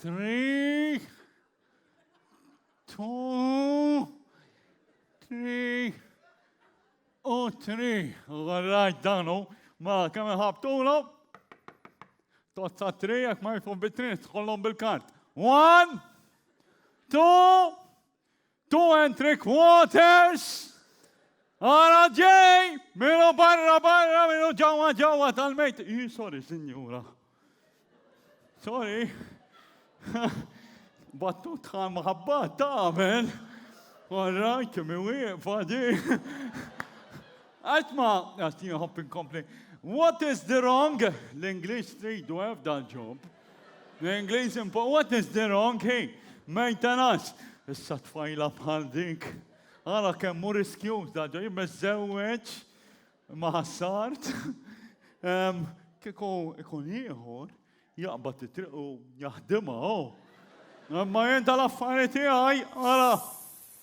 Three, two, three, u three. L-rajt danu, ma kemm ħabtulu. Tozza three, jek ma jfu bit-three, tħollom bil-kart. One, two, Two and three quarters! Ara ġej! Minu barra barra, minu ġawa ġawa tal-mejt. I, sorry, signora. Sorry. Battut tħal maħabba tamen. All right, mi wieqfa di. Għatma, għatni hop inkompli. What is the wrong? L-English tridu għaf dal-ġob. The English impo what is the wrong he? Maintenance. Issa tfajla bħal dik. Ara kemm hu riskjuż da ġo jibbeżżewweġ ma' ħassart. Ehm, Kieku ikun ieħor jaqbad it-triq u jaħdimha, oh. Imma jien tal-affari tiegħi, ara.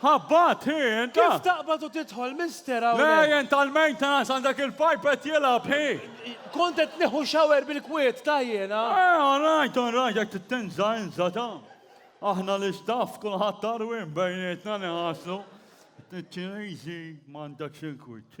Ħabbat hi int! Kif taqbad u tidħol Mister hawnhekk? Le int tal-maintenance għandek il-pipe qed jilgħab hi! Kont qed nieħu shower bil-kwiet ta' jiena! Eh all right all right jekk trid tinża' inża' ta'. Aħna l-istaff kulħadd għarwien bejnietna niħaslu. Ċiniżi m'għandekx il-kwiet.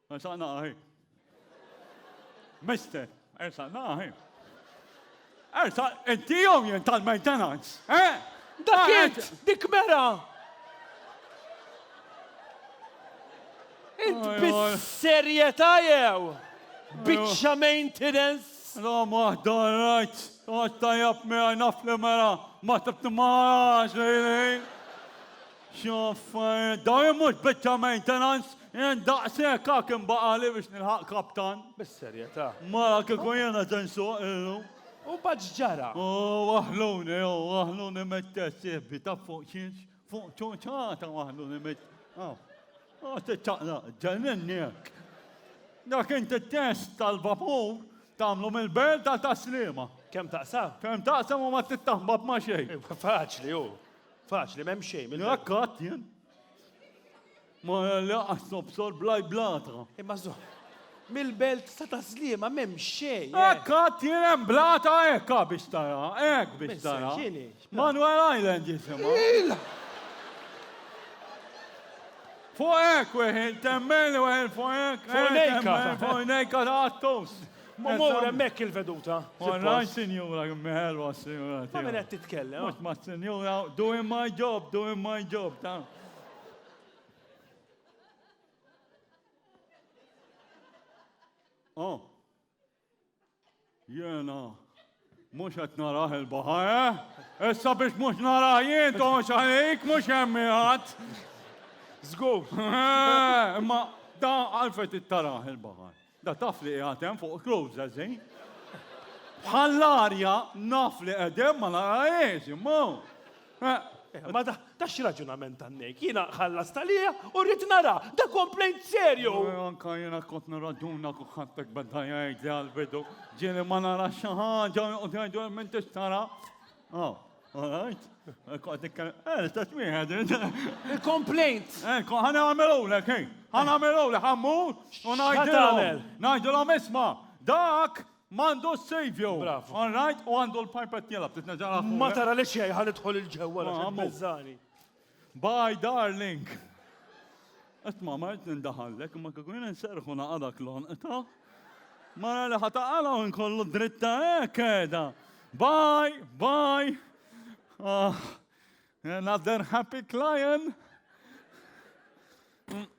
Ersaqna ahi. Mister, ersaqna ahi. Ersa, inti jew jien tal-maintenance, eh? Dak int, dik mera! Int bis-serjetà jew? Biċċa maintenance? Rom waħda rajt, għad tajab mera naf li mera, ma tibti ma għax li X'af dawn jien mhux biċċa maintenance, jien daqshekk hak inbaqagħli biex nilħaq kaptan. Bis-serjetà. Mara kieku jiena se nsuq illum. U mbagħad x'ġara? O, waħħluni, o, waħħluni mit-test, sieħbi, taf fuq x'inx? Fuq ċuċata waħħluni mit. O, o, tiċċaqlaq, ġenninni hekk. Dak inti t-test tal-vapur tagħmlu mill-belt għal tas-Sliema. Kemm taqsam? Kemm taqsam u ma trid taħbab ma' xejn. Faċli hu. Faċli, m'hemm xejn. minn- Jekk qatt jien. Ma laqas nobsor blaj blata. Imma zo. Mill-belt ta' ta' Sliema m'hemm xejn. eh. Hekk qatt jien hemm blata hekk ha, biex tara, hekk biex Miss, tara. x'inhi? X'bla- Manuel Island jisimha. Il! Fuq hekk weħin temmen weħin fuq hekk. Fuq nejka. Fuq nejka ta' għattos. Ma mur hemmhekk il-veduta. Online sinjura mħelwa sinjura. Ma minn qed titkellem. Mhux ma' sinjura doing my job, doing my job ta'. Oh. Jena. Mhux qed narah il-baħa, eh? Issa biex mhux narah jien toħx għalik mhux hemm ħadd. Żgur. Eh, imma da għalfejn tittarah il-baħa. Da taf li qiegħed hemm fuq clothes għażin. Bħall-arja naf li qegħdem ma narahiex, imma. Ma da, da x'raġunament għannek? Jiena ħallas talija u rrid nara, da komplejnt serju. Anka jiena kont nirraġuna ku ħattek beda jgħid li għal-bidu ġieli ma nara xi ħaġa u jgħidu hemm inti x'tara. Oh, all right. Kont ikkel, eh, l-istess wieħed. Il-komplejnt. Eh, ħana għamilulek, eh. Ħana għamilulek, ħammur u ngħidilhom. Ngħidilhom isma' dak M'għandu s-savio. Bravo. All right, u għandu l-pipet jelab, trid nerġa' nagħlaq fuq. Ma tara li xejn ħa nidħol il-ġewwa għax hemm beżżani. Bye darling. Qed ma mart nindaħallek, imma kieku jien inserħu naqadak l-onqta. Mara li ħataqala u nkollu dritta hekk qiegħda. Bye, bye. Ah, another happy client.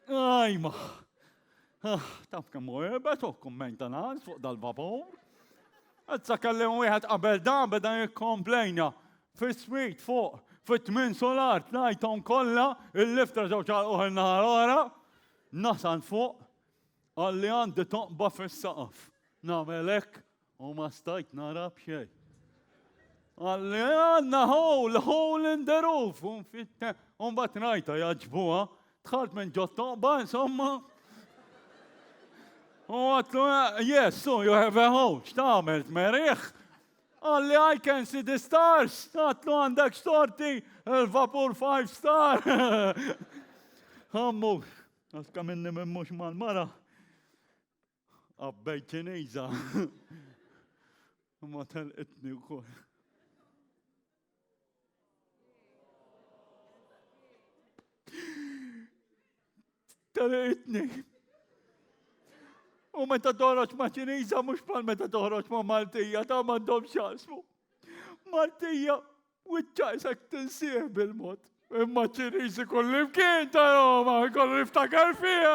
Ajma. Ah, taf kemm hu irbet u maintenance fuq dal-vapur. Għazza kelli wieħed qabel da beda jikkomplejna fis-swit fuq fit-tmin solar tlajthom kollha il-lifter ġew ċarquh in-nahar ora. Nasal fuq għalli għandi toqba fis-saqaf. Nagħmel hekk U ma stajt nara b'xej. Għalli għanna hole, hole in the roof, un fitte, un bat rajta jaġbuha, tħalt minn ġottoqba, insomma. U għatlu, yes, so you have a hole, xtamel, meriħ. Għalli I can see the stars, għatlu għandek xtorti, il-vapur five star. Għammu, għaska minni minn mux mal-mara. Qabbej ċiniża. Ma telqitni wkoll. Telqitni. U meta toħroġ ma' ċiniża mhux bħal meta toħroġ ma' Maltija ta' m'għandhom x'jaqsmu. Maltija Wiċċaj sek tinsieħ bil-mod. Imma ċirriżi kullimkien ta' Roma, kollu niftakar fija.